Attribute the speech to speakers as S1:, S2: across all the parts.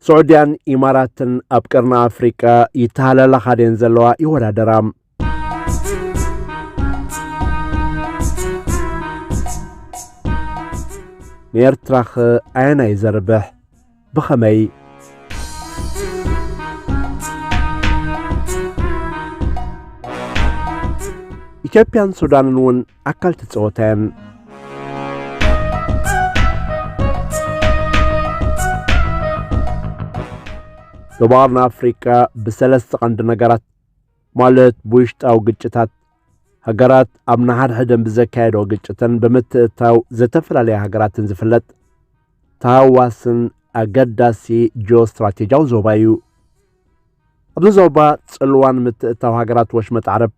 S1: ስዑድያን ኢማራትን ኣብ ቀርኒ ኣፍሪቃ ይተሃላለኻ ድየን ዘለዋ ይወዳደራ ንኤርትራኸ ኣየናይ ዘርብሕ ብኸመይ ኢትዮጵያን ሱዳንን እውን ኣካል እቲ ጸወታ እየን። ዶባር ንኣፍሪቃ ብሰለስተ ቀንዲ ነገራት ማለት ብውሽጣዊ ግጭታት ሃገራት ኣብ ንሓድሕደን ብዘካየዶ ግጭትን ብምትእታው ዝተፈላለያ ሃገራትን ዝፍለጥ ተሃዋስን ኣገዳሲ ጂኦ ስትራቴጂያዊ ዞባ እዩ ኣብዚ ዞባ ጽልዋን ምትእታው ሃገራት ወሽመጥ ዓረብ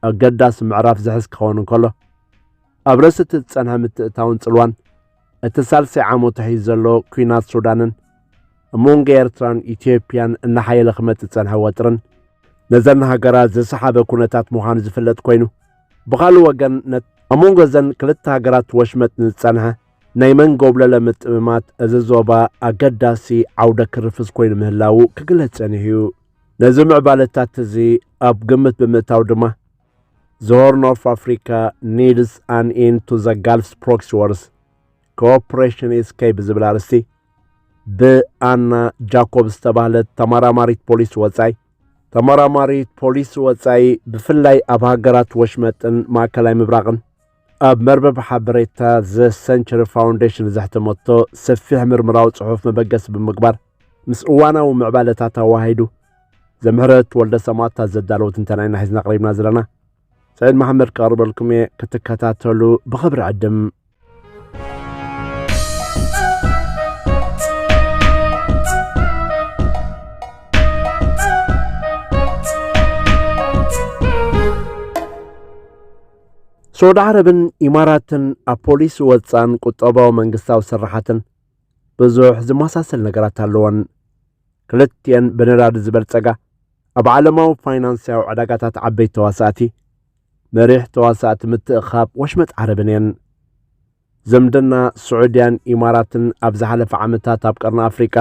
S1: ኣገዳሲ ምዕራፍ ዝሕዝ ክኸውን እንከሎ፣ ኣብ ርእሲ እቲ ዝጸንሐ ምትእትታውን ጽልዋን እቲ ሳልሳይ ዓመቱ ሒዙ ዘሎ ኲናት ሱዳንን ኣብ መንጎ ኤርትራን ኢትዮጵያን እናሓየለ ክመጽእ ዝጸንሐ ወጥርን ነዘን ሃገራት ዝሰሓበ ኩነታት ምዃኑ ዝፍለጥ ኮይኑ ብኻልእ ወገን ነት ኣብ መንጎ እዘን ክልተ ሃገራት ወሽመጥ ንዝጸንሐ ናይ መንጎብለለ ምጥምማት እዚ ዞባ ኣገዳሲ ዓውደ ክርፍስ ኮይኑ ምህላዉ ክግለጽ ጸኒሑ እዩ። ነዚ ምዕባለታት እዚ ኣብ ግምት ብምእታው ድማ ዘሆርን ኦፍ ኣፍሪካ ኒድስ ኣን ኢን ቱ ዘ ጋልፍስ ፕሮክሲ ወርስ ኮኦፕሬሽን ኢስ ከይ ብዝብል ኣርእስቲ ብኣና ጃኮብ ዝተባህለት ተመራማሪት ፖሊሲ ወፃኢ ተመራማሪት ፖሊሲ ወፃኢ ብፍላይ ኣብ ሃገራት ወሽመጥን ማእከላይ ምብራቕን ኣብ መርበብ ሓበሬታ ዘ ሰንቸሪ ፋውንዴሽን ዘሕተመቶ ሰፊሕ ምርምራዊ ጽሑፍ መበገሲ ብምግባር ምስ እዋናዊ ምዕባለታት ኣዋሂዱ ዘምህረት ወልደ ሰማእታት ዘዳለዎ ትንተና ኢና ሒዝና ቀሪብና ዘለና ሰዒድ መሓመድ ክቐርበልኩም እየ ክትከታተሉ ብኽብሪ ዕድም ስዑድ ዓረብን ኢማራትን ኣብ ፖሊሲ ወፃን ቁጠባዊ መንግስታዊ ስራሓትን ብዙሕ ዝመሳሰል ነገራት ኣለወን። ክልቲኤን ብነዳዲ ዝበልጸጋ ኣብ ዓለማዊ ፋይናንስያዊ ዕዳጋታት ዓበይቲ ተዋሳእቲ መሪሕ ተዋሳእቲ ምትእኻብ ወሽመጥ ዓረብን እየን። ዝምድና ስዑድያን ኢማራትን ኣብ ዝሓለፈ ዓመታት ኣብ ቀርኒ ኣፍሪቃ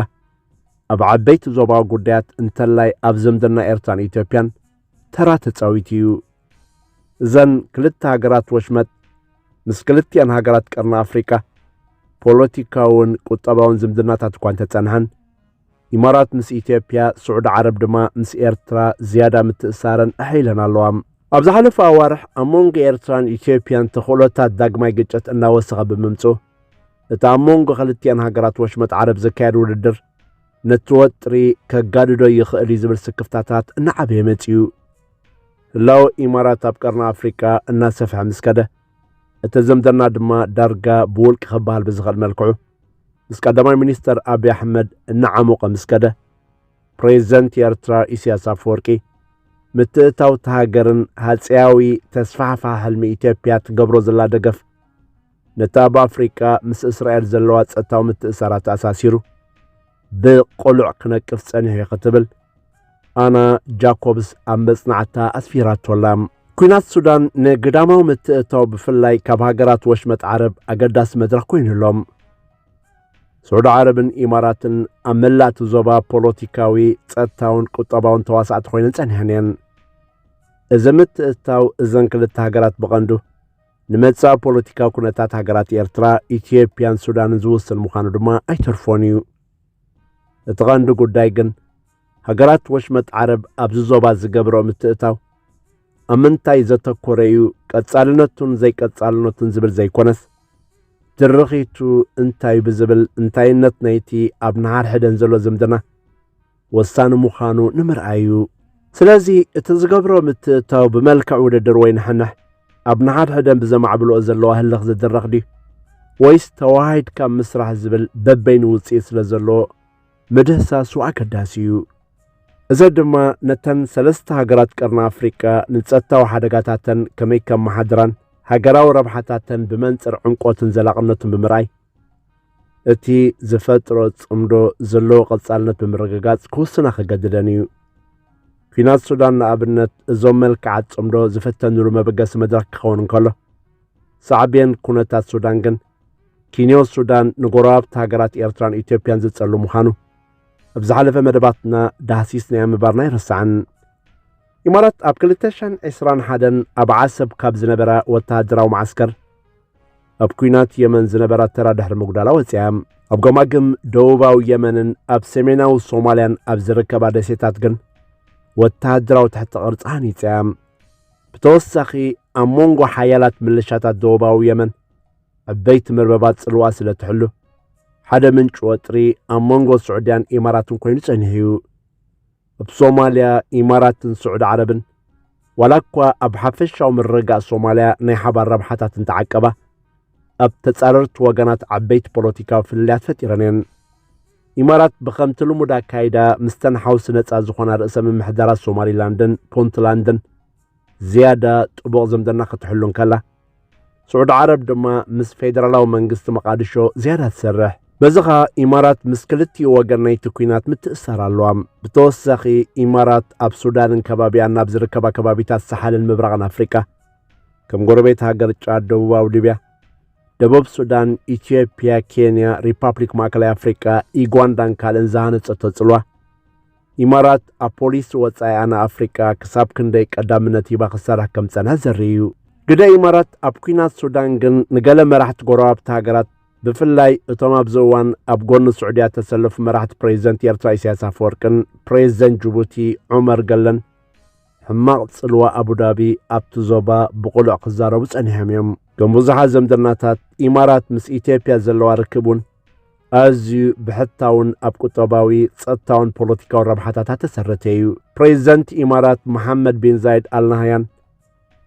S1: ኣብ ዓበይቲ ዞባዊ ጉዳያት እንተላይ ኣብ ዝምድና ኤርትራን ኢትዮጵያን ተራ ተጻዊቱ እዩ። እዘን ክልተ ሃገራት ወሽመጥ ምስ ክልቲኣን ሃገራት ቀርኒ ኣፍሪቃ ፖለቲካውን ቁጠባውን ዝምድናታት እኳ እንተጸንሐን ኢማራት ምስ ኢትዮጵያ፣ ስዑዲ ዓረብ ድማ ምስ ኤርትራ ዝያዳ ምትእስሳረን ኣሕ ኢለን ኣለዋ። ኣብ ዝሓለፉ ኣዋርሕ ኣብ መንጎ ኤርትራን ኢትዮጵያን ተኽእሎታት ዳግማይ ግጭት እናወሰኸ ብምምጽኡ፣ እቲ ኣብ መንጎ ክልቲኣን ሃገራት ወሽመጥ ዓረብ ዝካየድ ውድድር ነቲ ወጥሪ ከጋድዶ ይኽእል እዩ ዝብል ስክፍታታት እናዓበየ መጺኡ። ህላወ ኢማራት ኣብ ቀርኒ ኣፍሪቃ እናሰፍሐ ምስ ከደ፣ እቲ ዝምድና ድማ ዳርጋ ብውልቂ ክበሃል ብዝኽእል መልክዑ ምስ ቀዳማይ ሚኒስተር ኣብዪ ኣሕመድ እናዓሞቐ ምስ ከደ ፕሬዚደንት ኤርትራ ኢሳያስ ኣፈወርቂ ምትእታው እቲ ሃገርን ሃፀያዊ ተስፋሕፋ ሕልሚ ኢትዮጵያ ትገብሮ ዘላ ደገፍ ነቲ ኣብ ኣፍሪቃ ምስ እስራኤል ዘለዋ ጸጥታዊ ምትእሳራት ኣሳሲሩ ብቆሉዕ ክነቅፍ ጸኒሑ እዩ ክትብል ኣና ጃኮብስ ኣብ መጽናዕታ ኣስፊራቶላ ኩናት ሱዳን ንግዳማዊ ምትእታው ብፍላይ ካብ ሃገራት ወሽመጥ ዓረብ ኣገዳሲ መድረኽ ኮይኑ ኣሎ ስዑዲ ዓረብን ኢማራትን ኣብ መላእቲ ዞባ ፖለቲካዊ ጸጥታውን ቁጠባውን ተዋሳእቲ ኮይነን ጸኒሐን እየን እዚ ምትእታው እዘን ክልተ ሃገራት ብቐንዱ ንመጻእ ፖለቲካዊ ኩነታት ሃገራት ኤርትራ፣ ኢትዮጵያን ሱዳንን ዝውስን ምዃኑ ድማ ኣይተርፎን እዩ። እቲ ቐንዲ ጉዳይ ግን ሃገራት ወሽመጥ ዓረብ ኣብዚ ዞባ ዝገብረኦ ምትእታው ኣብ ምንታይ ዘተኮረ እዩ ቀጻልነቱን ዘይቀጻልነቱን ዝብል ዘይኮነስ ድርኺቱ እንታይ ብዝብል እንታይነት ናይቲ ኣብ ንሓድሕደን ዘሎ ዝምድና ወሳኒ ምዃኑ ንምርኣይ እዩ። ስለዚ እቲ ዝገብሮ ምትእትታው ብመልክዕ ውድድር ወይ ንሕንሕ ኣብ ንሓድሕደን ብዘማዕብልኦ ዘለዋ ህልኽ ዝድረኽ ድዩ ወይስ ተወሃሂድካ ምስራሕ ዝብል በበይኑ ውጽኢት ስለ ዘለዎ ምድህሳሱ ኣገዳሲ እዩ። እዚ ድማ ነተን ሰለስተ ሃገራት ቀርኒ ኣፍሪቃ ንጸጥታዊ ሓደጋታተን ከመይ ከመሓድራን ሃገራዊ ረብሓታተን ብመንጽር ዕምቆትን ዘላቕነቱን ብምርኣይ እቲ ዝፈጥሮ ጽምዶ ዘለዎ ቐጻልነት ብምርግጋጽ ክውስና ክገድደን እዩ። ኲናት ሱዳን ንኣብነት እዞም መልክዓት ጽምዶ ዝፈተንሉ መበገሲ መድረኽ ክኸውን እንከሎ ሳዕቤን ኩነታት ሱዳን ግን ኪንዮ ሱዳን ንጎረባብቲ ሃገራት ኤርትራን ኢትዮጵያን ዝጸሉ ምዃኑ ኣብ ዝሓለፈ መደባትና ዳህሲስናዮ ምባርና ይርሳዕን ኢማራት ኣብ 221 ኣብ ዓሰብ ካብ ዝነበራ ወተሃደራዊ መዓስከር ኣብ ኩናት የመን ዝነበራ ተራ ድሕሪ ምጉዳላ ወፂኣ ኣብ ገማግም ደቡባዊ የመንን ኣብ ሰሜናዊ ሶማልያን ኣብ ዝርከባ ደሴታት ግን ወተሃደራዊ ትሕቲ ቅርፂ ሃኒፀ ብተወሳኺ ኣብ መንጎ ሓያላት ምልሻታት ደቡባዊ የመን ዕበይቲ መርበባት ፅልዋ ስለ ትሕሉ ሓደ ምንጭ ወጥሪ ኣብ መንጎ ስዑድያን ኢማራትን ኮይኑ ጸኒሑ እዩ ኣብ ሶማልያ ኢማራትን ስዑድ ዓረብን ዋላ እኳ ኣብ ሓፈሻዊ ምርግጋእ ሶማልያ ናይ ሓባር ረብሓታት እንተዓቀባ ኣብ ተጻረርቲ ወገናት ዓበይቲ ፖለቲካዊ ፍልልያት ፈጢረን እየን ኢማራት ብከምቲ ልሙድ ኣካይዳ ምስተን ሓውሲ ነጻ ዝኾና ርእሰ ምምሕዳራት ሶማሊላንድን ፑንትላንድን ዝያዳ ጥቡቕ ዝምድና ክትሕሉ እንከላ ስዑድ ዓረብ ድማ ምስ ፌደራላዊ መንግስቲ መቓድሾ ዝያዳ ትሰርሕ በዚ ኸኣ ኢማራት ምስ ክልቲኡ ወገን ናይቲ ኲናት ምትእስሳር ኣለዋ ብተወሳኺ ኢማራት ኣብ ሱዳንን ከባቢያን ናብ ዝርከባ ከባቢታት ሰሓልን ምብራቕን ኣፍሪቃ ከም ጎረቤት ሃገር ጫድ ደቡባዊ ሊብያ ደቡብ ሱዳን፣ ኢትዮጵያ፣ ኬንያ፣ ሪፓብሊክ ማእከላይ ኣፍሪቃ፣ ኢጓንዳን ካልእን ዝሃነጸቶ ጽልዋ ኢማራት ኣብ ፖሊሲ ወጻኢኣ ንኣፍሪቃ ክሳብ ክንደይ ቀዳምነት ሂባ ክሰርሕ ከም ዝጸንሐት ዘርኢ እዩ። ግደ ኢማራት ኣብ ኲናት ሱዳን ግን ንገለ መራሕቲ ጎረባብቲ ሃገራት ብፍላይ እቶም ኣብዚ እዋን ኣብ ጎኒ ስዑድያ እተሰለፉ መራሕቲ ፕሬዚደንት ኤርትራ ኢሳያስ ኣፈወርቅን ፕሬዚደንት ጅቡቲ ዑመር ገለን ሕማቕ ጽልዋ ኣቡዳቢ ኣብቲ ዞባ ብቕሉዕ ክዛረቡ ጸኒሖም እዮም። ከም ብዙሓት ዘምድናታት ኢማራት ምስ ኢትዮጵያ ዘለዋ ርክብ እውን ኣዝዩ ብሕታውን ኣብ ቁጠባዊ ጸጥታውን ፖለቲካዊ ረብሓታታ ተሰረተ እዩ ፕሬዚደንት ኢማራት መሓመድ ቢን ዛይድ ኣልናህያን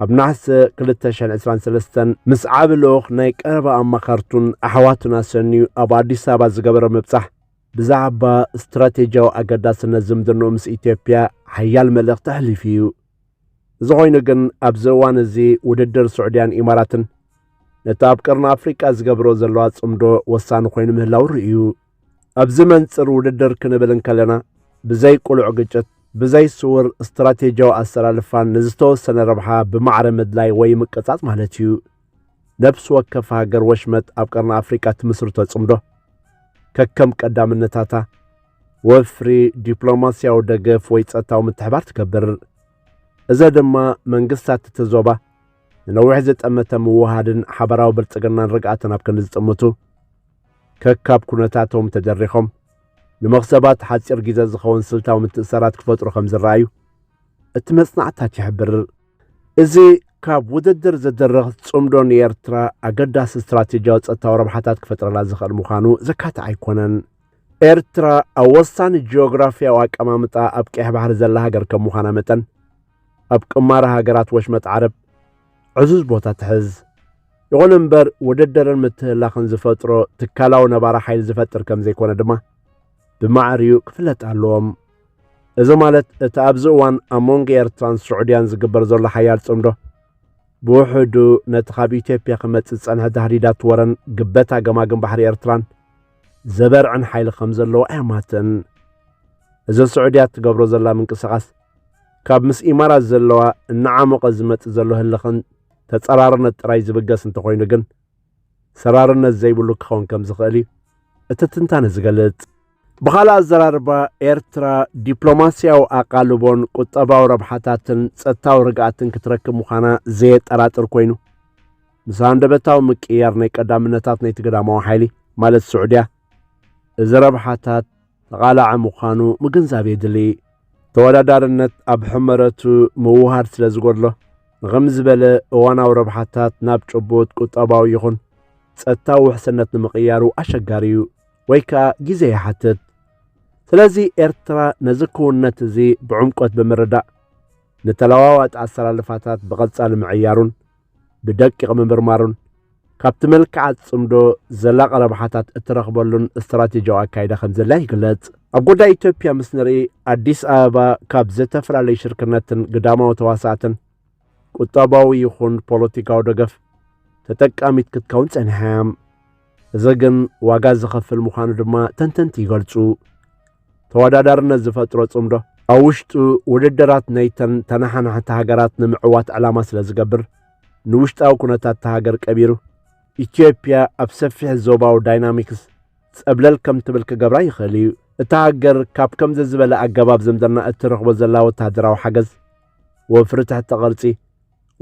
S1: ኣብ ናሕሰ 223 ምስ ዓብ ልኡኽ ናይ ቀረባ ኣማኸርቱን ኣሕዋቱን ኣሰንዩ ኣብ ኣዲስ ኣበባ ዝገበረ ምብጻሕ ብዛዕባ ስትራቴጂያዊ ኣገዳስነት ዝምድንኡ ምስ ኢትዮጵያ ሓያል መልእኽቲ ኣሕሊፉ እዩ እዚ ኮይኑ ግን ኣብዚ እዋን እዚ ውድድር ስዑድያን ኢማራትን ነቲ ኣብ ቀርኒ ኣፍሪቃ ዝገብሮ ዘለዋ ጽምዶ ወሳኒ ኮይኑ ምህላው ርእዩ ኣብዚ መንጽር ውድድር ክንብል እንከለና ብዘይ ቁሉዕ ግጭት ብዘይ ስውር ስትራቴጂያዊ ኣሰላልፋን ንዝተወሰነ ረብሓ ብማዕረ ምድላይ ወይ ምቀጻጽ ማለት እዩ። ነፍሲ ወከፍ ሃገር ወሽመጥ ኣብ ቀርኒ ኣፍሪቃ ትምስርቶ ጽምዶ ከከም ቀዳምነታታ ወፍሪ ዲፕሎማስያዊ ደገፍ ወይ ጸጥታዊ ምትሕባር ትገብር እዚ ድማ መንግስታት እቲ ዞባ ንነዊሕ ዝጠመተ ምውሃድን ሓበራዊ ብልጽግናን ርግኣትን ኣብ ክንዲ ዝጥምቱ ከካብ ኩነታቶም ተደሪኾም ንመኽሰባት ሓፂር ግዜ ዝኸውን ስልታዊ ምትእሰራት ክፈጥሩ ከም ዝረኣዩ እቲ መጽናዕታት ይሕብር እዚ ካብ ውድድር ዝድርኽ ጽምዶ ንኤርትራ ኣገዳሲ ስትራቴጂያዊ ጸጥታዊ ረብሓታት ክፈጥረላ ዝኽእል ምዃኑ ዘካትዕ ኣይኮነን። ኤርትራ ኣብ ወሳኒ ጂኦግራፍያዊ ኣቀማምጣ ኣብ ቀይሕ ባሕሪ ዘላ ሃገር ከም ምዃና መጠን ኣብ ቅማረ ሃገራት ወሽመጥ ዓረብ ዕዙዝ ቦታ ትሕዝ። ይኹን እምበር ውድድርን ምትህላኽን ዝፈጥሮ ትካላዊ ነባራ ሓይሊ ዝፈጥር ከም ዘይኮነ ድማ ብማዕርኡ ክፍለጥ ኣለዎም። እዚ ማለት እቲ ኣብዚ እዋን ኣብ መንጎ ኤርትራን ስዑድያን ዝግበር ዘሎ ሓያል ጽምዶ ብውሕዱ ነቲ ካብ ኢትዮጵያ ክመጽእ ዝጸንሐ ታህዲዳት ወረን ግበታ ገማግም ባሕሪ ኤርትራን ዘበርዕን ሓይሊ ከም ዘለዎ ኣየማትን እዚ ስዑድያ እትገብሮ ዘላ ምንቅስቓስ ካብ ምስ ኢማራት ዘለዋ እናዓሞቐ ዝመጽእ ዘሎ ህልኽን ተጸራርነት ጥራይ ዝብገስ እንተኾይኑ ግን ሰራርነት ዘይብሉ ክኸውን ከም ዝኽእል እዩ እቲ ትንታነ ዝገልጽ ብኻልእ ኣዘራርባ ኤርትራ ዲፕሎማስያዊ ኣቓልቦን ቁጠባዊ ረብሓታትን ጸጥታዊ ርግኣትን ክትረክብ ምዃና ዘየጠራጥር ኮይኑ ምስ ሃንደበታዊ ምቅይያር ናይ ቀዳምነታት ናይቲ ግዳማዊ ሓይሊ ማለት ስዑድያ እዚ ረብሓታት ተቓላዒ ምዃኑ ምግንዛብ የድሊ ተወዳዳርነት ኣብ ሕመረቱ ምውሃድ ስለ ዝጎድሎ ንኸም ዝበለ እዋናዊ ረብሓታት ናብ ጭቡጥ ቁጠባዊ ይኹን ጸጥታዊ ውሕስነት ንምቕያሩ ኣሸጋሪ እዩ። ወይ ከኣ ግዜ ይሓትት ስለዚ ኤርትራ ነዚ ክውነት እዚ ብዕምቆት ብምርዳእ ንተለዋዋጢ ኣሰላልፋታት ብቐጻሊ ምዕያሩን ብደቂቕ ምምርማሩን ካብቲ መልክዓት ጽምዶ ዘላቒ ረብሓታት እትረኽበሉን ስትራቴጂያዊ ኣካይዳ ከም ዘላ ይግለጽ ኣብ ጉዳይ ኢትዮጵያ ምስ ንርኢ ኣዲስ ኣበባ ካብ ዝተፈላለዩ ሽርክነትን ግዳማዊ ተዋሳእትን ቁጠባዊ ይኹን ፖለቲካዊ ደገፍ ተጠቃሚት ክትከውን ጸኒሓ እያ እዚ ግን ዋጋ ዝኸፍል ምዃኑ ድማ ተንተንቲ ይገልጹ። ተወዳዳርነት ዝፈጥሮ ጽምዶ ኣብ ውሽጡ ውድድራት ናይተን ተነሓናሕቲ ሃገራት ንምዕዋት ዕላማ ስለ ዝገብር ንውሽጣዊ ኩነታት ሃገር ቀቢሩ ኢትዮጵያ ኣብ ሰፊሕ ዞባዊ ዳይናሚክስ ጸብለል ከም ትብል ክገብራ ይኽእል እዩ እታ ሃገር ካብ ከምዚ ዝበለ ኣገባብ ዝምድና እትረኽቦ ዘላ ወተሃደራዊ ሓገዝ ወፍሪ ትሕተ ቕርጺ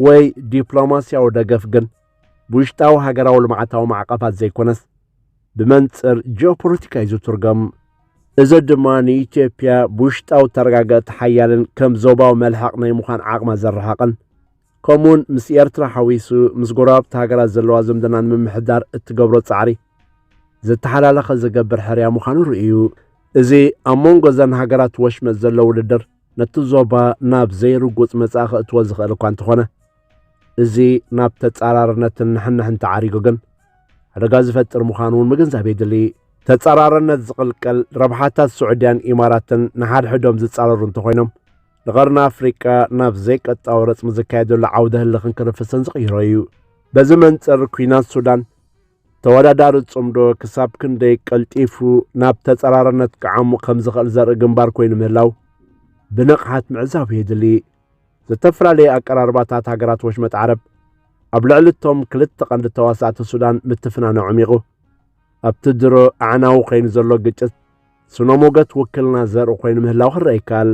S1: ወይ ዲፕሎማስያዊ ደገፍ ግን ብውሽጣዊ ሃገራዊ ልምዓታዊ ማዕቐፋት ዘይኮነስ ብመንፅር ጂኦፖለቲካ እዩ ዝትርገም። እዚ ድማ ንኢትዮጵያ ብውሽጣዊ ተረጋገእቲ ሓያልን ከም ዞባዊ መልሕቕ ናይ ምዃን ዓቕማ ዘረሓቕን ከምኡውን ምስ ኤርትራ ሓዊሱ ምስ ጎረባብቲ ሃገራት ዘለዋ ዝምድና ንምምሕዳር እትገብሮ ጻዕሪ ዝተሓላለኸ ዝገብር ሕርያ ምዃኑ ርእዩ። እዚ ኣብ መንጎ እዘን ሃገራት ወሽመጥ ዘሎ ውድድር ነቲ ዞባ ናብ ዘይርጉጽ መጻኢ ከእትዎ ዝኽእል እኳ እንተኾነ እዚ ናብ ተጻራርነትን ንሕንሕን ተዓሪጉ ግን ሓደጋ ዝፈጥር ምዃኑ እውን ምግንዛብ የድሊ ተጻራርነት ዝቕልቀል ረብሓታት ስዑድያን ኢማራትን ንሓድሕዶም ዝጻረሩ እንተኾይኖም ንቐርኒ ኣፍሪቃ ናብ ዘይቀጣዊ ረጽሚ ዝካየደሉ ዓውደ ህልኽን ክርፍስን ዝቕይሮ እዩ በዚ መንጽር ኩናት ሱዳን ተወዳዳሪ ጽምዶ ክሳብ ክንደይ ቀልጢፉ ናብ ተጸራርነት ክዓሙ ከም ዝኽእል ዘርኢ ግንባር ኮይኑ ምህላው ብንቕሓት ምዕዛብ የድሊ። ዝተፈላለየ ኣቀራርባታት ሃገራት ወሽመጥ ዓረብ ኣብ ልዕሊ እቶም ክልተ ቀንዲ ተዋሳእቲ ሱዳን ምትፍናነ ዕሚቑ ኣብቲ ድሮ ኣዕናዊ ኮይኑ ዘሎ ግጭት ስነ ሞገት ውክልና ዘርኢ ኮይኑ ምህላው ክረአ ይከኣል።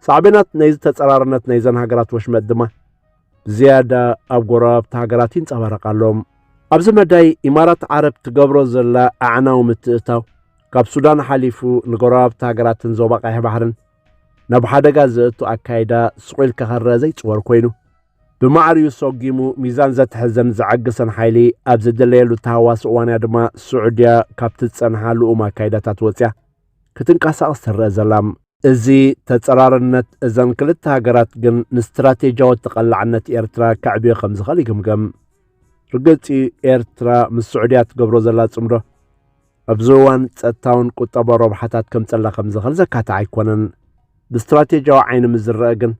S1: ሳዕቤናት ናይ ዝተጸራርነት ናይዘን ሃገራት ወሽመጥ ድማ ብዝያዳ ኣብ ጎረባብቲ ሃገራት ይንጸባረቕ ኣሎ። ኣብዚ መዳይ ኢማራት ዓረብ ትገብሮ ዘላ ኣዕናዊ ምትእታው ካብ ሱዳን ሓሊፉ ንጎረባብቲ ሃገራትን ዞባ ቀይሕ ባሕርን ናብ ሓደጋ ዘእቱ ኣካይዳ ስቑ ኢልካ ክረአ ዘይጽወር ኮይኑ ብማዕሪኡ ሰጒሙ ሚዛን ዘትሕዘን ዘዐግሰን ሓይሊ ኣብ ዘደለየሉ ተሃዋሲ እዋንያ ድማ ስዑድያ ካብቲ ዝጸንሓ ልኡም ኣካይዳታት ወጽያ ክትንቀሳቐስ ትረኣ ዘላ። እዚ ተጸራርነት እዘን ክልተ ሃገራት ግን ንስትራቴጂያዊ ተቐላዕነት ኤርትራ ከዕብዮ ከም ዝኽእል ይግምገም። ርግጽ'ዩ ኤርትራ ምስ ስዑድያ ትገብሮ ዘላ ጽምዶ ኣብዚ እዋን ጸጥታውን ቁጠባዊ ረብሓታት ከምጸላ ከም ዝኽእል ዘካትዕ ኣይኮነን። ብስትራቴጂያዊ ዓይኒ ምስ ዝረኣ ግን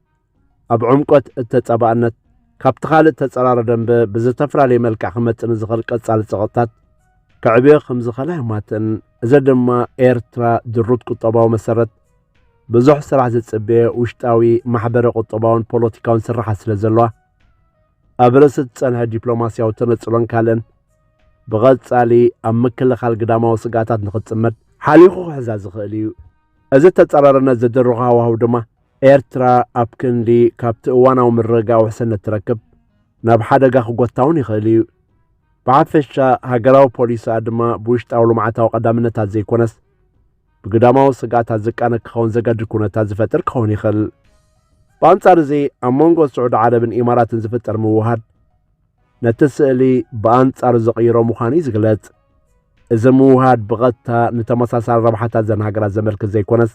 S1: ኣብ ዕምቆት እተጻባእነት ካብቲ ካልእ ተጸራሪ ደንበ ብዝተፈላለየ መልክዕ ክመጽእ ንዝኽእል ቀጻሊ ጸቕጥታት ከዕብዮ ከም ዝኽእል ኣይማትን። እዚ ድማ ኤርትራ ድሩት ቁጠባዊ መሰረት ብዙሕ ስራሕ ዝጽበየ ውሽጣዊ ማሕበረ ቁጠባውን ፖለቲካውን ስርሓት ስለ ዘለዋ ኣብ ርእሲ ዝጸንሐ ዲፕሎማስያዊ ተነጽሎን ካልእን ብቐጻሊ ኣብ ምክልኻል ግዳማዊ ስግኣታት ንኽጽመድ ሓሊኹ ክሕዛ ዝኽእል እዩ። እዚ ተጻራርነት ዝድርኾ ሃዋህው ድማ ኤርትራ ኣብ ክንዲ ካብቲ እዋናዊ ምርግጋእ ውሕስነት ትረክብ ናብ ሓደጋ ክጎታ እውን ይኽእል እዩ። ብሓፈሻ ሃገራዊ ፖሊሲኣ ድማ ብውሽጣዊ ልምዓታዊ ቀዳምነታት ዘይኮነስ ብግዳማዊ ስግኣታት ዝቃነ ክኸውን ዘገድድ ኩነታት ዝፈጥር ክኸውን ይኽእል። ብኣንጻር እዚ ኣብ መንጎ ስዑዲ ዓረብን ኢማራትን ዝፍጠር ምውሃድ ነቲ ስእሊ ብኣንጻሩ ዝቕይሮ ምዃኑ እዩ ዝግለጽ እዚ ምውሃድ ብቐጥታ ንተመሳሳሊ ረብሓታት ዘን ሃገራት ዘመልክት ዘይኮነስ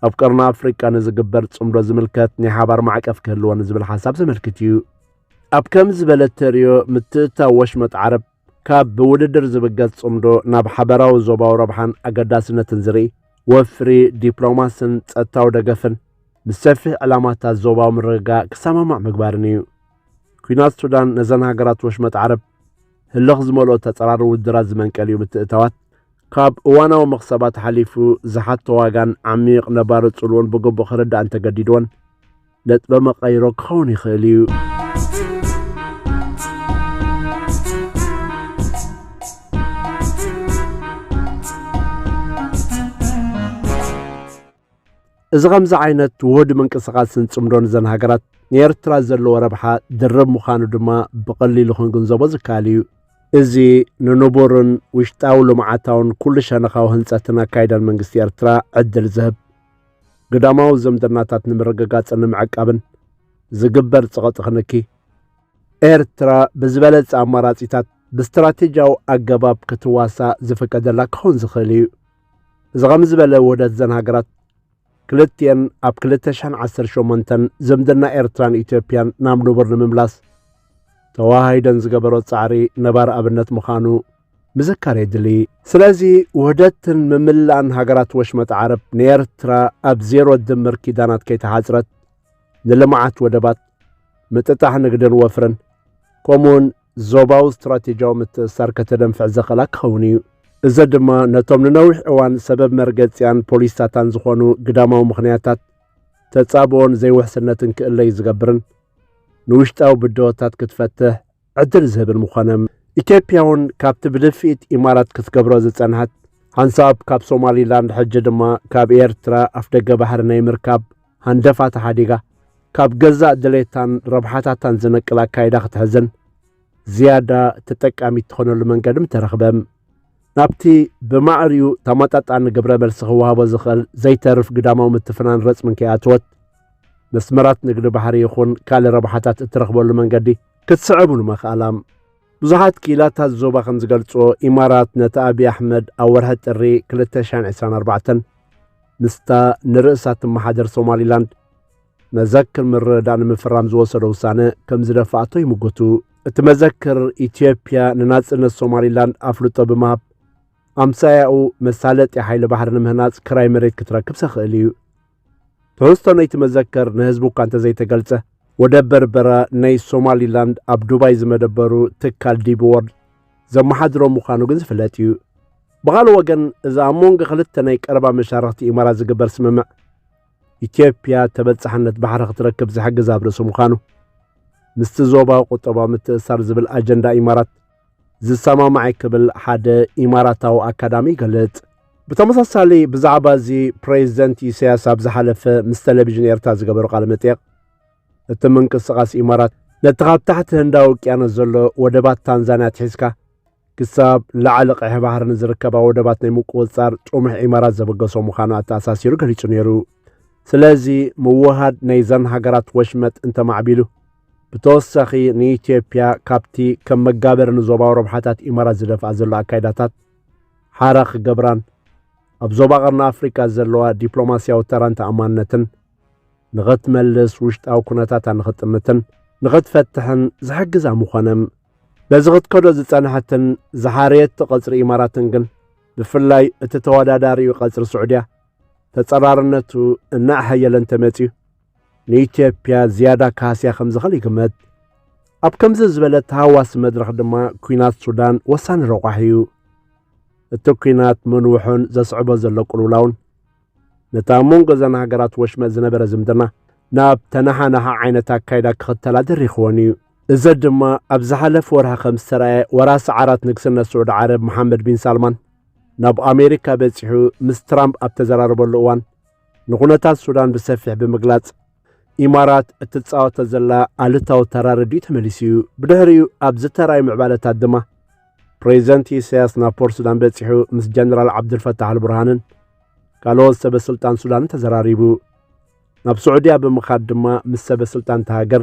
S1: ኣብ ቀርኒ ኣፍሪቃ ንዝግበር ጽምዶ ዝምልከት ናይ ሓባር ማዕቀፍ ክህልዎ ንዝብል ሓሳብ ዘመልክት እዩ ኣብ ከም ዝበለ ተርዮ ምትእታው ወሽመጥ ዓረብ ካብ ብውድድር ዝብገስ ጽምዶ ናብ ሓበራዊ ዞባዊ ረብሓን ኣገዳስነትን ዝርኢ ወፍሪ ዲፕሎማስን ጸጥታዊ ደገፍን ምስ ሰፊሕ ዕላማታት ዞባዊ ምርግጋእ ክሰማማዕ ምግባርን እዩ ኩናት ሱዳን ነዘን ሃገራት ወሽመጥ ዓረብ ህልኽ ዝመልኦ ተጸራሪ ውድድራት ዝመንቀሊኡ ምትእታዋት ካብ እዋናዊ መኽሰባት ሓሊፉ ዝሓቶ ዋጋን ዓሚቕ ነባሪ ጽልዎን ብግቡእ ክርዳእ እንተገዲድዎን ነጥበ መቐይሮ ክኸውን ይኽእል እዩ። እዚ ኸምዚ ዓይነት ውሁድ ምንቅስቓስን ጽምዶን እዘን ሃገራት ንኤርትራ ዘለዎ ረብሓ ድርብ ምዃኑ ድማ ብቐሊሉ ክንግንዘቦ ዝከኣል እዩ። እዚ ንንቡርን ውሽጣዊ ልምዓታውን ኩሉ ሸነኻዊ ህንጸትን ኣካይዳን መንግስቲ ኤርትራ ዕድል ዝህብ ግዳማዊ ዝምድናታት ንምርግጋጽን ንምዕቃብን ዝግበር ጸቐጢ ክንኪ ኤርትራ ብዝበለጸ ኣማራጺታት ብስትራቴጂያዊ ኣገባብ ክትዋሳእ ዝፍቀደላ ክኸውን ዝኽእል እዩ። እዚ ኸም ዝበለ ውህደት ዘን ሃገራት ክልቲኤን ኣብ 218 ዝምድና ኤርትራን ኢትዮጵያን ናብ ንቡር ንምምላስ ተዋሃሂደን ዝገበሮ ጻዕሪ ነባሪ ኣብነት ምዃኑ ምዝካር የድሊ ስለዚ ውህደትን ምምላእን ሃገራት ወሽመጥ ዓረብ ንኤርትራ ኣብ ዜሮ ድምር ኪዳናት ከይተሓጽረት ንልምዓት ወደባት ምጥጣሕ ንግድን ወፍርን ከምኡውን ዞባዊ ስትራቴጂያዊ ምትእስሳር ከተደንፍዕ ዘኽእላ ክኸውን እዩ። እዚ ድማ ነቶም ንነዊሕ እዋን ሰበብ መርገጺኣን ፖሊሲታታን ዝኾኑ ግዳማዊ ምኽንያታት ተጻብኦን ዘይውሕስነትን ክእለዩ ዝገብርን ንውሽጣዊ ብድሆታት ክትፈትሕ ዕድል ዝህብን ምኾነ። ኢትዮጵያ እውን ካብቲ ብድፍኢት ኢማራት ክትገብሮ ዝጸንሐት ሓንሳብ ካብ ሶማሊላንድ ሕጂ ድማ ካብ ኤርትራ ኣፍደገ ባሕሪ ናይ ምርካብ ሃንደፋ ተሓዲጋ ካብ ገዛእ ድሌታን ረብሓታታን ዝነቅል ኣካይዳ ክትሕዝን ዝያዳ ተጠቃሚት ትኾነሉ መንገድም ተረኽበ። ናብቲ ብማዕሪኡ ተመጣጣኒ ግብረ መልሲ ክወሃቦ ዝኽእል ዘይተርፍ ግዳማዊ ምትፍናን ረጽምን ከይኣተወት መስመራት ንግዲ ባሕሪ ይኹን ካልእ ረብሓታት እትረኽበሉ መንገዲ ክትስዕብሉ መኽኣላ ብዙሓት ክኢላታት ዞባ ከም ዝገልጽዎ ኢማራት ነቲ ኣብዪ ኣሕመድ ኣብ ወርሒ ጥሪ 2024 ምስታ ንርእሳ እትመሓደር ሶማሊላንድ መዘክር ምርድዳእ ንምፍራም ዝወሰደ ውሳነ ከም ዝደፍኣቶ ይምጉቱ እቲ መዘክር ኢትዮጵያ ንናጽነት ሶማሊላንድ ኣፍልጦ ብምሃብ ኣምሳያኡ መሳለጢ ሓይሊ ባሕሪ ንምህናጽ ክራይ መሬት ክትረክብ ሰኽእል እዩ ትሕዝቶ ናይቲ መዘከር ንህዝቡ እኳ እንተዘይተገልጸ፣ ወደብ በርበራ ናይ ሶማሊላንድ ኣብ ዱባይ ዝመደበሩ ትካል ዲቢ ወርልድ ዘመሓድሮ ምዃኑ ግን ዝፍለጥ እዩ። ብኻልእ ወገን እዚ ኣብ መንጎ ክልተ ናይ ቀረባ መሻርኽቲ ኢማራት ዝግበር ስምምዕ ኢትዮጵያ ተበጻሕነት ባሕሪ ክትረክብ ዝሕግዝ ኣብ ርእሲ ምዃኑ ምስቲ ዞባዊ ቁጠባዊ ምትእስሳር ዝብል ኣጀንዳ ኢማራት ዝሰማማዕ ክብል ሓደ ኢማራታዊ ኣካዳሚ ይገልጽ። ብተመሳሳሊ ብዛዕባ እዚ ፕሬዚደንት ኢሳያስ ኣብ ዝሓለፈ ምስ ቴሌቪዥን ኤርትራ ዝገበሩ ቃለ መጠየቕ እቲ ምንቅስቓስ ኢማራት ነቲ ካብ ታሕቲ ህንዳዊ ውቅያኖስ ዘሎ ወደባት ታንዛንያ ትሒዝካ ክሳብ ላዕሊ ቀይሕ ባሕሪ ንዝርከባ ወደባት ናይ ምቁፅፃር ጥሙሕ ኢማራት ዘበገሶ ምዃኑ ኣተኣሳሲሩ ገሊጹ ነይሩ። ስለዚ ምውሃድ ናይዘን ሃገራት ወሽመጥ እንተማዕቢሉ ብተወሳኺ ንኢትዮጵያ ካብቲ ከም መጋበሪ ንዞባዊ ረብሓታት ኢማራት ዝደፍኣ ዘሎ ኣካይዳታት ሓራ ክገብራን ኣብ ዞባ ቀርኒ ኣፍሪካ ዘለዋ ዲፕሎማስያዊ ተራን ተኣማንነትን ንኸትመልስ ውሽጣዊ ኩነታታ ንኽጥምትን ንኽትፈትሕን ዝሕግዛ ምኾነም በዚ ክትከዶ ዝጸንሐትን ዝሓርየት ቐጽሪ ኢማራትን ግን ብፍላይ እቲ ተወዳዳሪኡ ቐጽሪ ስዑድያ ተጸራርነቱ እናኣሐየለ እንተመጺኡ ንኢትዮጵያ ዝያዳ ካህስያ ከም ዝኽእል ይግመት። ኣብ ከምዚ ዝበለ ተሃዋሲ መድረኽ ድማ ኲናት ሱዳን ወሳኒ ረቋሒ እዩ። እቲ ኲናት ምንውሑን ዘስዕቦ ዘሎ ቅልውላውን ነቲ ኣብ መንጎ እዘን ሃገራት ወሽመጥ ዝነበረ ዝምድና ናብ ተነሓናሓ ዓይነት ኣካይዳ ክኽተላ ደሪኽዎን እዩ። እዚ ድማ ኣብ ዝሓለፈ ወርሒ ከም ዝተረኣየ ወራሲ ዓራት ንግስነት ስዑድ ዓረብ መሓመድ ቢን ሳልማን ናብ ኣሜሪካ በጺሑ ምስ ትራምፕ ኣብ ተዘራረበሉ እዋን ንኹነታት ሱዳን ብሰፊሕ ብምግላጽ ኢማራት እትጻወቶ ዘላ ኣሉታዊ ተራ ረዲኡ ተመሊሱ እዩ። ብድሕሪኡ ኣብ ዝተራእዩ ምዕባለታት ድማ ፕሬዚደንት ኢሳያስ ናብ ፖር ሱዳን በጺሑ ምስ ጀነራል ዓብዱልፈታሕ ኣልቡርሃንን ካልኦት ሰበስልጣን ሱዳንን ተዘራሪቡ። ናብ ስዑድያ ብምኻድ ድማ ምስ ሰበስልጣን እታ ሃገር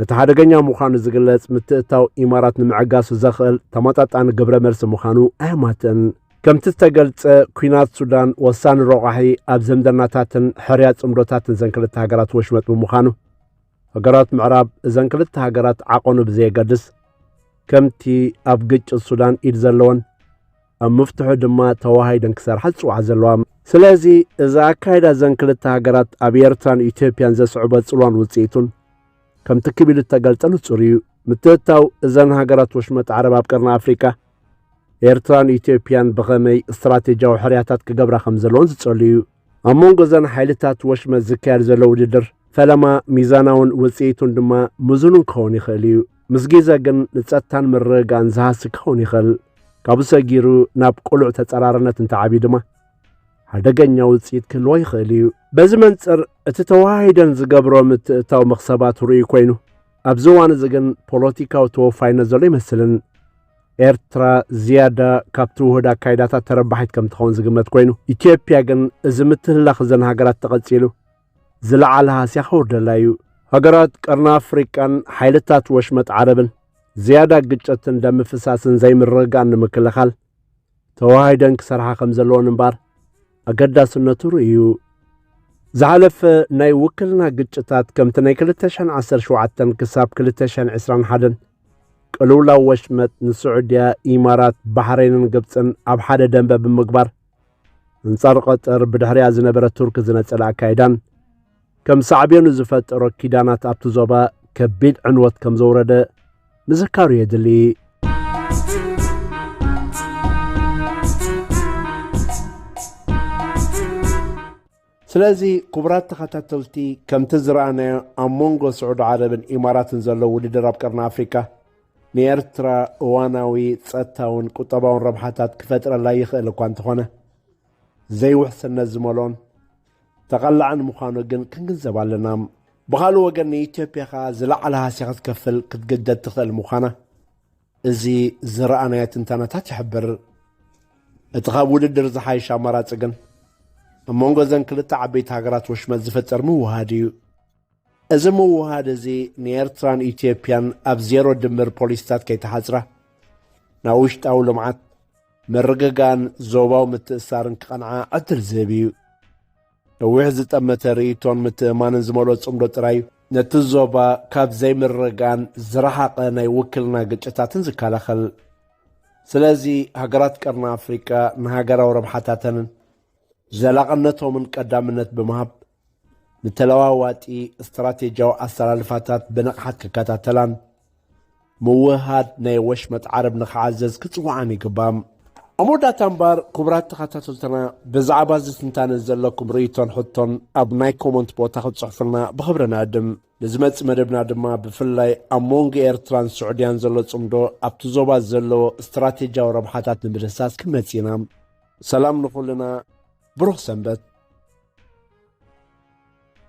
S1: ነቲ ሓደገኛ ምዃኑ ዝግለጽ ምትእታው ኢማራት ንምዕጋሱ ዘኽእል ተመጣጣኒ ግብረ መልሲ ምዃኑ ኣየማትእን። ከምቲ ዝተገልጸ ኩናት ሱዳን ወሳኒ ረቋሒ ኣብ ዘምደናታትን ሕርያ ጽምዶታትን ዘን ክልተ ሃገራት ወሽመጥ ብምዃኑ ሃገራት ምዕራብ እዘን ክልተ ሃገራት ዓቐኑ ብዘየገድስ ከምቲ ኣብ ግጭት ሱዳን ኢድ ዘለወን ኣብ ምፍትሑ ድማ ተዋሃሂደን ክሰርሓ ዝጽውዓ ዘለዋ ስለዚ እዚ ኣካይዳ ዘን ክልተ ሃገራት ኣብ ኤርትራን ኢትዮጵያን ዘስዕቦ ጽልዋን ውጽኢቱን ከምቲ ክብ ኢሉ እተገልጸ ንጹር እዩ። ምትእትታው እዘን ሃገራት ወሽመጥ ዓረብ ኣብ ቀርኒ ኣፍሪቃ ኤርትራን ኢትዮጵያን ብኸመይ ስትራቴጂያዊ ሕርያታት ክገብራ ከም ዘለዎን ዝጸሉ እዩ። ኣብ መንጎ እዘን ሓይልታት ወሽመት ዝካየድ ዘሎ ውድድር ፈለማ ሚዛናውን ውፅኢቱን ድማ ምዙኑን ክኸውን ይኽእል እዩ ምስ ግዜ ግን ንጸጥታን ምርግጋእን ዝሃሲ ክኸውን ይኽእል ካብኡ ሰጊሩ ናብ ቅሉዕ ተጸራርነት እንተዓብዩ ድማ ሓደገኛ ውፅኢት ክህልዎ ይኽእል እዩ በዚ መንፅር እቲ ተዋሂደን ዝገብሮ ምትእታው መኽሰባት ርኡይ ኮይኑ ኣብዚ እዋን እዚ ግን ፖለቲካዊ ተወፋይነት ዘሎ ይመስልን ኤርትራ ዝያዳ ካብቲ ውሁድ ኣካይዳታት ተረባሒት ከም ትኸውን ዝግመት ኮይኑ ኢትዮጵያ ግን እዚ ምትህላኽ እዘን ሃገራት ተቐጺሉ ዝለዓለ ሃስያ ክውርደላ እዩ ሃገራት ቀርኒ ኣፍሪቃን ሓይልታት ወሽመጥ ዓረብን ዝያዳ ግጭትን ደም ምፍሳስን ዘይምርግጋእን ንምክልኻል ተዋሃሂደን ክሰርሓ ከም ዘለወን እምበኣር ኣገዳስነቱ ርእዩ። ዝሓለፈ ናይ ውክልና ግጭታት ከምቲ ናይ 2017 ክሳብ 2021 ቅልውላው ወሽመጥ ንስዑድያ፣ ኢማራት፣ ባሕሬንን ግብፅን ኣብ ሓደ ደንበ ብምግባር ኣንጻር ቐጠር ብድሕሪያ ዝነበረ ቱርኪ ዝነጸለ ኣካይዳን ከም ሳዕቤኑ ዝፈጠሮ ኪዳናት ኣብቲ ዞባ ከቢድ ዕንወት ከም ዘውረደ ምዝካሩ የድሊ። ስለዚ ክቡራት ተኸታተልቲ ከምቲ ዝረኣናዮ ኣብ መንጎ ስዑዲ ዓረብን ኢማራትን ዘሎ ውድድር ኣብ ቀርኒ ኣፍሪካ ንኤርትራ እዋናዊ ጸጥታውን ቁጠባውን ረብሓታት ክፈጥረላ ይኽእል እኳ እንተኾነ ዘይውሕስነት ዝመልኦን ተቐላዕን ምዃኑ ግን ክንግንዘብ ኣለና። ብኻልእ ወገን ንኢትዮጵያ ከኣ ዝለዓለ ሃስያ ክትከፍል ክትግደድ ትኽእል ምዃና እዚ ዝረኣናዮ ትንተናታት ይሕብር። እቲ ካብ ውድድር ዝሓይሽ ኣማራጺ ግን ኣብ መንጎ እዘን ክልተ ዓበይቲ ሃገራት ወሽመጥ ዝፍጠር ምውህሃድ እዩ። እዚ ምውህሃድ እዚ ንኤርትራን ኢትዮጵያን ኣብ ዜሮ ድምር ፖሊሲታት ከይተሓጽራ ናብ ውሽጣዊ ልምዓት፣ ምርግጋእን ዞባዊ ምትእስሳርን ክቐንዓ ዕድል ዝህብ እዩ። ነዊሕ ዝጠመተ ርእይቶን ምትእምማንን ዝመልኦ ጽምዶ ጥራይ እዩ፣ ነቲ ዞባ ካብ ዘይምርግጋእን ዝረሓቐ ናይ ውክልና ግጭታትን ዝከላኸል። ስለዚ ሃገራት ቀርኒ ኣፍሪቃ ንሃገራዊ ረብሓታተንን ዘላቕነቶምን ቀዳምነት ብምሃብ፣ ንተለዋዋጢ ስትራቴጂያዊ ኣሰላልፋታት ብንቕሓት ክከታተላን ምውህሃድ ናይ ወሽመጥ ዓረብ ንክዓዘዝ ክጽውዓን ይግባእ። ኣብ መወዳእታ እምበር ክቡራት ተኸታተልትና ብዛዕባ እዚ ትንታነ ዘለኩም ርእይቶን ሕቶን ኣብ ናይ ኮመንት ቦታ ክትጽሕፉልና ብኽብሪ ንዕድም። ንዝመጽእ መደብና ድማ ብፍላይ ኣብ መንጎ ኤርትራን ስዑድያን ዘሎ ጽምዶ ኣብቲ ዞባ ዘለዎ ስትራቴጂያዊ ረብሓታት ንምድህሳስ ክንመጽእ ኢና። ሰላም ንኹልና ብሩኽ ሰንበት።